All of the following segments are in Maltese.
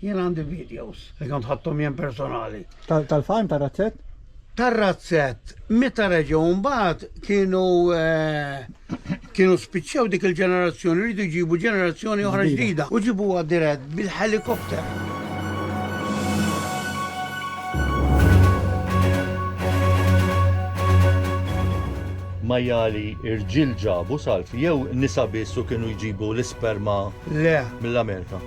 Jien għandi videos li kont ħadthom jien personali. Tal-farm tar-razzett? Tar-razzett, meta reġgħu mbagħad kienu eh, kienu spiċċew dik il-ġenerazzjoni rridu jġibu ġenerazzjoni oħra ġdida u ġibuha dirett bil-helikopter. majjali irġil ġabu salf jew nisa biss u kienu jġibu l-isperma Le, mill-Amerika.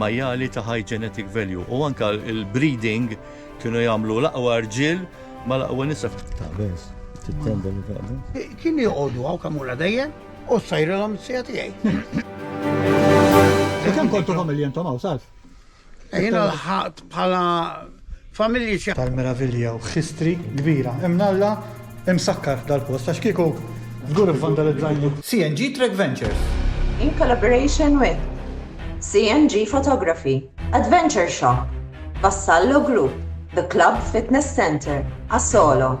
majjali ta' high genetic value u anka il-breeding kienu jagħmlu l-aqwa rġiel ma l-aqwa nisa f'tabens. Kien joqogħdu għaw kamura dejjem u sajrilhom sija tiegħi. Kemm kontu familja intom hawn salf? Jiena lħaqt bħala familji xi. Tal-meravilja u history kbira. Imnalla imsakkar dal-post għax kieku żgur ivvandalizzajni. CNG Trek Ventures. In collaboration with CNG Photography, Adventure Shop, Vassallo Group, The Club Fitness Centre, Asolo.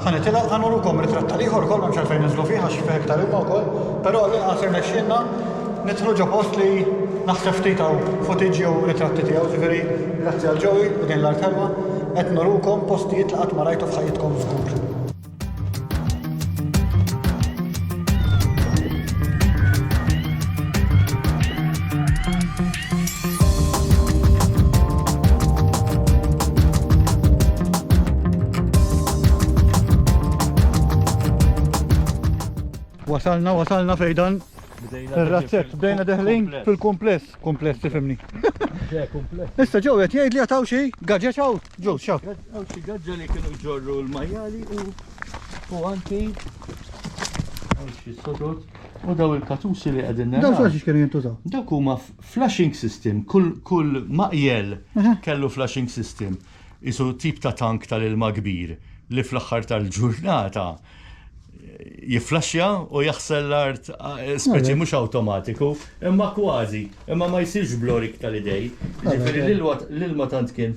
Ħa nitilgħu, ħa nurukom ir-ritratt tal-ieħor ukoll m'hemmx għalfejn ninżlu fih għax fih iktar ilma wkoll, però għall-inqas irnexxielna nidħlu ġo post li naħseb ftit hawn footage jew ritratti tiegħu, ġifieri grazzi għal Joey u din l-art ħelwa qed nurukom postijiet li qatt ma rajtu f'ħajjitkom żgur. Wasalna, wasalna fejdan. Il-razzett, bdejna deħlin fil-kumpless. Kumpless, tifimni. Issa ġew qed jgħid li jataw xi gaġġeġ hawn. Ġew xaw. Hawn xi gaġġa li kienu ġorru l-majjali u anki hawn xi sodod. U daw il-katusi li qegħdin naraw. Daw flashes kienu jintużaw. Dawk huma flashing system, kull maqjel kellu flashing system. Isu tip ta' tank tal-ilma kbir li fl-aħħar tal-ġurnata jifflaxxja u jaħsel l-art speċi mhux awtomatiku, imma kważi, imma ma jsirx blorik tal-idej. Jiġifieri l-ilma tant kien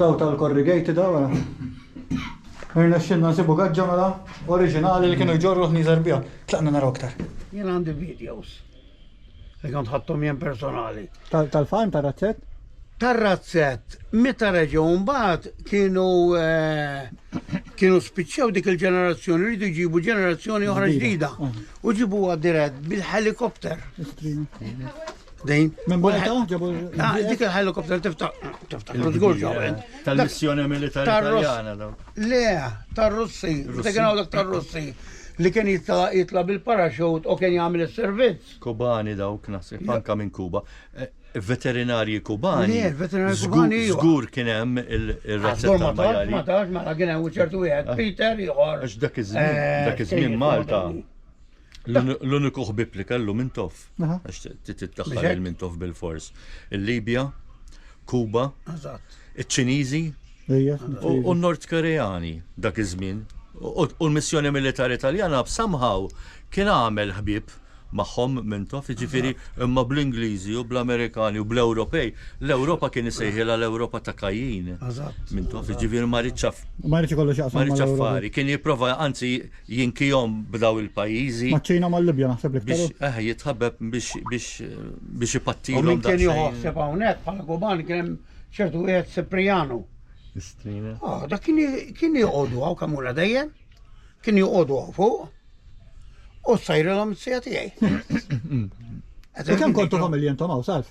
Daw tal-corrugated daw għara. Irnexxilna nsibu gaġġa mela oriġinali li kienu jġorru ħniżer biha. Tlaqna naraw aktar. Jien għandi videos. Li kont ħadtom jien personali. Tal-farm tar-razzett? Tar-razzett, meta reġgħu mbagħad kienu eh, kienu spiċċew dik il-ġenerazzjoni rridu jġibu ġenerazzjoni oħra ġdida. U ġibuha dirett bil-helikopter. Dejn. Minn Malta ġabu. Ah, dik il-helikopter tiftaħ. Tiftaħ. Tal-missjoni militari taljana daw. Le, tar-Russi. Dik għaw dak tar-Russi li kien jitla bil-paraxut u kien jagħmel is-servizz. Kubani dawk naħseb anka minn Kuba. Eh, veterinarji kubani. Le, veterinarji kubani. Żgur kien hemm il-razzetta. Ma tax, ma tax, ma kien hemm ċertu wieħed ah. Peter ieħor. Għax dak iż-żmien, eh, dak iż-żmien Malta. L-uniku ħbib li kellu Mintoff, għax titdaħħal il-Mintoff bil-fors. Il-Libja, Kuba, iċ-Ċiniżi u n-Nord Koreani dak iż-żmien. U l-missjoni militari Taljana somehow kien għamel ħbieb magħhom Mintoff, jiġifieri imma bl-Ingliżi u bl-Amerikani u bl-Ewropej. L-Ewropa kien isejħilha l-Ewropa ta' Kajjin. Mintoff, jiġifieri ma ridx. Ma ridx ikollu x'jaqsam. Ma ridx affari. Kien jipprova anzi Jinkihom b'daw il-pajjiżi. Maċ-Ċina mal-Libja naħseb l-iktar. Biex eħ jitħabbeb biex biex biex ipattihom. U min kien jieħu ħsieb hawnhekk bħala Guban kien hemm ċertu wieħed Sipriano. Istrina. Ah, dak kien joqogħdu hawn kemm ura dejjem. Kien joqogħdu hawn fuq. U sajrilhom sija tiegħi. Kemm kontu familji intom hawn salf?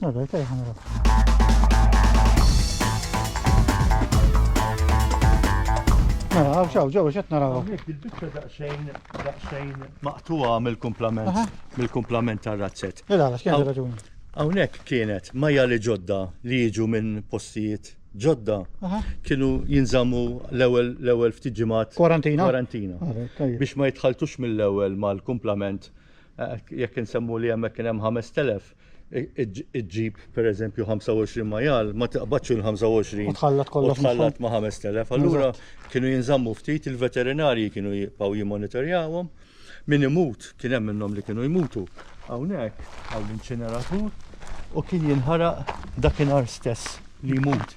Vabbè, te ħanra. Mela, għaw xaw, ġew, xet naraw. Il-bicċa daqsejn, daqsejn maqtuwa mill-kumplament, mill-kumplament tar-razzet. Ila, għax kien raġuni. Hawnhekk kienet majja li ġodda li jiġu minn postijiet ġodda kienu jinżammu l-ewwel l-ewwel ftit ġimgħat kwarantina. Kwarantina. Biex ma jitħaltux mill-ewwel mal-kumplament eh, jekk insemmu li hemmhekk kien hemm 5000 iġġib pereżempju 25 majal, ma tiqbadx il-25. U tħallat kollox. Tħallat ma' 5000. Allura kienu jinżammu ftit il-veterinarji kienu jibqgħu jimmonitorjawhom. Min imut kien hemm minnhom li kienu jmutu hawnhekk għal l-inċineratur u kien jinħaraq dakinhar stess li jmut.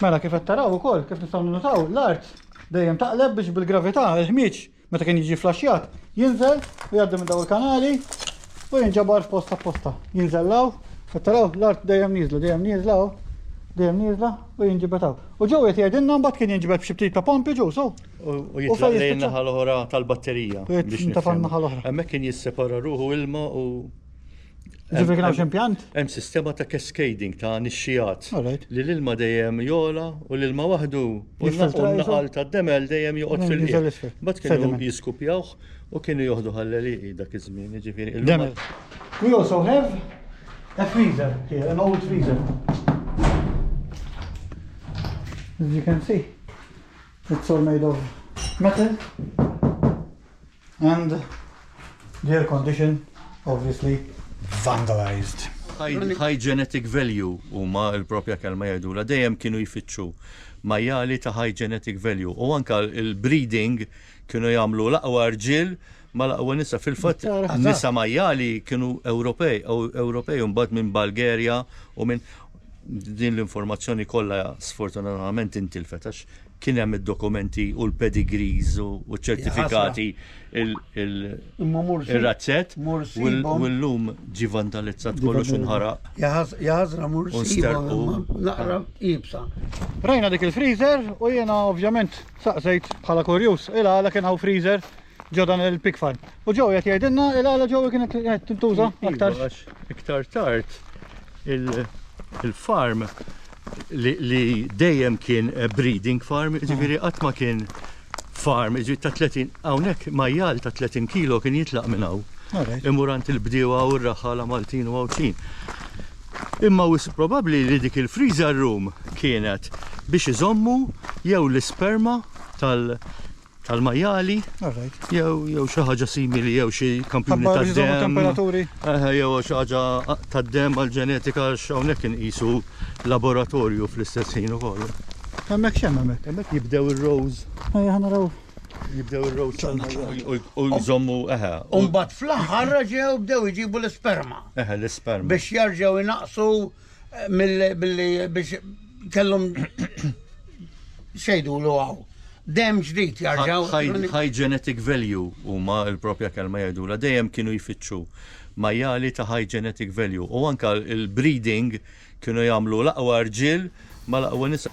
Mela kif qed taraw ukoll kif nistgħu ninnutaw l-art dejjem taqleb biex bil-gravità il-ħmieġ meta kien jiġi flaxxjat jinżel u jgħaddi minn daw il-kanali u jinġabar f'posta f'posta. Jinżellaw, qed taraw l-art dejjem nieżla, dejjem nieżla u dejjem nieżla u jinġibed hawn. U ġew qed jgħidilna mbagħad kien jinġibed b'xi ftit ta' pompi ġew so. U jitlaq lejn naħa l-oħra tal-batterija. Biex ta' naħa l-oħra. Hemmhekk kien jissepara ruħu ilma u Ġifiri kien impjant? Hemm sistema ta' cascading ta' nixxijat. Li l-ilma dejjem jola u l-ilma waħdu u l-naqal ta' demel dejjem joqgħod fil-qiegħ. Bat kienu jiskupjawh u kienu joħdu ħalleliqi dak iż-żmien, ġifiri. Demel. We also have a freezer here, an old freezer. As you can see, it's all made of metal. And the air condition obviously vandalized. High genetic value huma l-propja kelma jgħidula dejjem kienu jfittxu majjali ta' high genetic value u anka il-breeding kienu jagħmlu l-aqwa rġiel ma l-aqwa nisa fil-fatt nisa majjali kienu Ewropej u Ewropej mbagħad minn Bulgaria u minn Din l-informazzjoni kollha sfortunatament intilfet għax kien hemm id-dokumenti u l-pedigrees u ċ-ċertifikati il-razzett u llum ġi vandalizzat kollox u nħaraq. Jaħasra mur naqra ibsa. Rajna dik il-freezer u jiena ovvjament saqsejt bħala kurjuż, ila għala kien hawn freezer ġo dan il-pig farm. U ġo qed jgħidilna il għala ġo kienet qed tintuża iva, aktar. Iktar tard il-farm li dejjem kien eh, breeding farm, mm. ġifieri qatt ma kien farm, ġifieri ta' 30 hawnhekk majjal ta' 30 kilo kien jitlaq minn hawn. Imurant il-bdiewa u r-raħala Maltin u Għawdxin. Imma wis probabbli li dik il-freezer room kienet biex iżommu jew l-isperma tal- tal-majjali jew xi ħaġa simili jew xi kampjuni tad-demm. temperaturi. Jew xi ħaġa tad-demm għall-ġenetika għax hawnhekk inqisu laboratorju fl-istess ħin ukoll. Hemmhekk x'hemm hemmhekk? Hemmhekk jibdew ir-rows. Ejja ħana raw. Jibdew ir-rows u jżommu eħe. Umbagħad fl-aħħar ġew bdew iġibu l-isperma. Eħe l-isperma. Biex jarġgħu jnaqsu Billi biex kellhom xejdu l għaw. Dem ġdid jarġaw. High genetic value huma l-propja kelma jgħidu la dejjem kienu jfittxu majjali ta' high genetic value u anka il-breeding kienu jagħmlu l-aqwa rġiel ma l-aqwa nisa.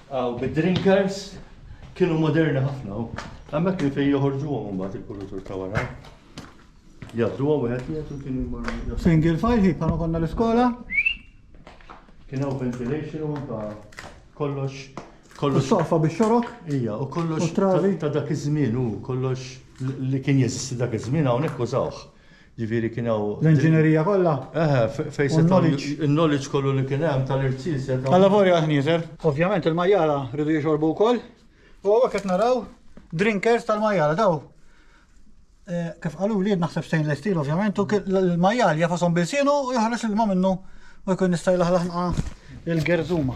Hawn bid-drinkers kienu moderni ħafna u hemmhekk kien fejn joħorġuhom imbagħad il-kurutur ta' wara. Jabduhom wieħed wieħed u kienu jmorru. Single file ħi bħalma konna l-iskola. Kien hawn ventilation u ta' kollox kollox Sofa biex xorok. Ija, u kollox ta' dak iż-żmien u kollox li kien jeżisti dak iż-żmien hawnhekk użawh. Ġifieri kien hawn. L-inġinerija kollha. Eħe, fejn setgħu. U n-knowledge. In-knowledge kollu li kien hemm tal-irċiel setgħu. Allavolja l-ħnieżer. Ovvjament il-majjara riedu jixorbu wkoll. U hawnhekk qed naraw drinkers tal-majjara daw. Kif qalu li naħseb stainless steel ovvjament u l-majjal jafasom bil-sienu u joħroġ l-ilma minnu u jkun jista' jlaħlaħ il-gerżuma.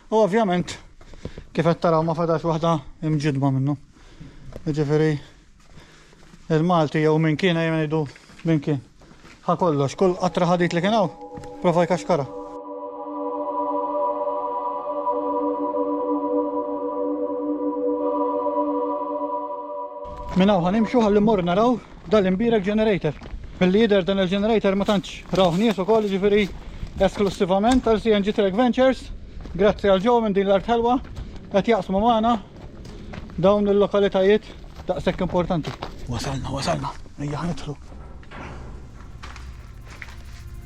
U ovvjament, kif qed taraw ma fadax waħda imġidba minnu. Jiġifieri il-Malti jew minn kien ejja ngħidu minn kien. Ħa kollox, kull qatra ħadid li kien hawn, prova jkaxkara. Minna uħan imxu għalli mor naraw Dal-imbierek generator. Milli jidher dan il-generator ma tantx rawh nies ukoll jiġifieri esklussivament għal CNG Trek Ventures. Grazzi għal ġew minn din l-art ħelwa qed jaqsmu magħna dawn il-lokalitajiet daqshekk importanti. Wasalna, wasalna. Ejja ħnidħlu.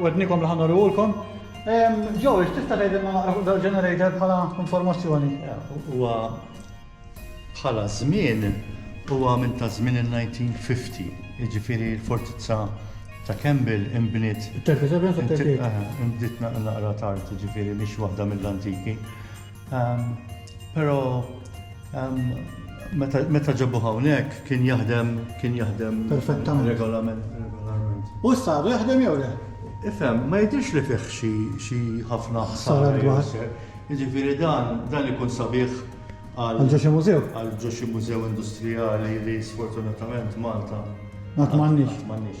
Wednikom li ħanurihulkom. Joe, tista' tgħidilna naqra fuq dal-generator bħala informazzjoni? Huwa bħala żmien huwa minn ta' żmien il-1950, jiġifieri l-fortizza ta' Campbell inbniet. 37 sa 38. Inbniet naqra tard, jiġifieri mhix waħda mill-antiki. Però meta ġabu hawnhekk kien jaħdem kien jaħdem perfettament regolament. U issa għadu jaħdem jew le? Ifhem, ma jidhirx li fih xi ħafna ħsara dwar. Jiġifieri dan dan ikun sabiħ għal ġo xi mużew. Għal ġo xi mużew industrijali li sfortunatament Malta. Qatt m'għandniex. Qatt m'għandniex.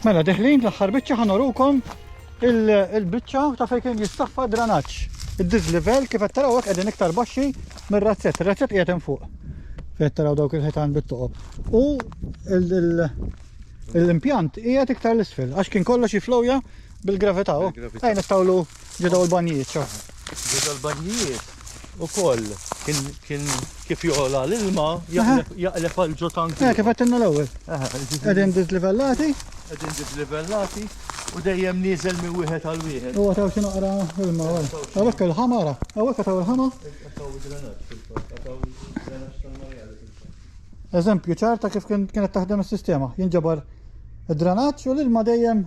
Mela deħlin l-aħħar biċċa ħanorukom il-biċċa ta' fejn kien jistaffa dranaġġ. Id-dislivel kif qed taraw hekk qegħdin iktar baxxi mir-razzett. Ir-razzett qiegħed hemm fuq. Fejn taraw dawk il-ħitan bit-toqob. U l-impjant qiegħed iktar l-isfel għax kien kollox jiflowja bil-gravità. Ejn ittawlu ġedaw l-banjijiet ċa. Ġedaw l-banjijiet. ukoll kien kien kif jola l-ilma jaqleb għal ġo tank. Eh, kif għattinna l-ewwel. Qegħdin dislivellati. Qegħdin dislivellati u dejjem nieżel minn wieħed għal wieħed. Huwa taw xi naqra ilma. Hawnhekk il-ħama ra. Hawnhekk taw il-ħama. Eżempju ċarta kif kienet taħdem is-sistema. Jinġabar id-drenaġġ u l-ilma dejjem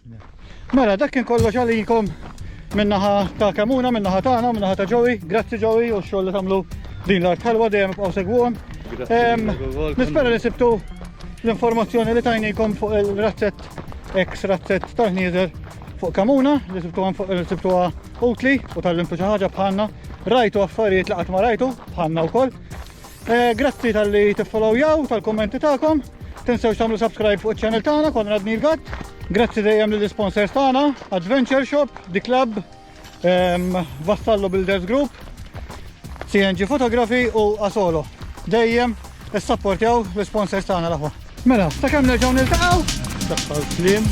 Mela, dak kien kollox għalikom minnaħa ta' Kamuna, minnaħa tagħna, minnaħa ta' Joey. Grazzi Joey u x-xogħol li tagħmlu din l-art ħalwa dejjem ibqgħu segwuhom. Nispera li sibtu l-informazzjoni li tajnikom fuq il-razzett ex razzett tal-ħnieżer fuq Kamuna li sibtu għan fuq sibtu utli u tal-limtu xi ħaġa bħalna. Rajtu affarijiet li qatt ma rajtu bħalna wkoll. Eh, grazzi tal-li tiffollowjaw, tal-kommenti tagħkom. Tinsewx tagħmlu subscribe fuq iċ-channel tagħna Konrad Nilgat. Grazzi dejjem lill sponsors tagħna, Adventure Shop, The Club, ehm, Vassallo Builders Group, CNG Photography u Asolo. Dejjem issapportjaw l-sponsors tagħna l-aħwa. Mela, ta' kemm nerġgħu niltaqgħu? Daħħal klim.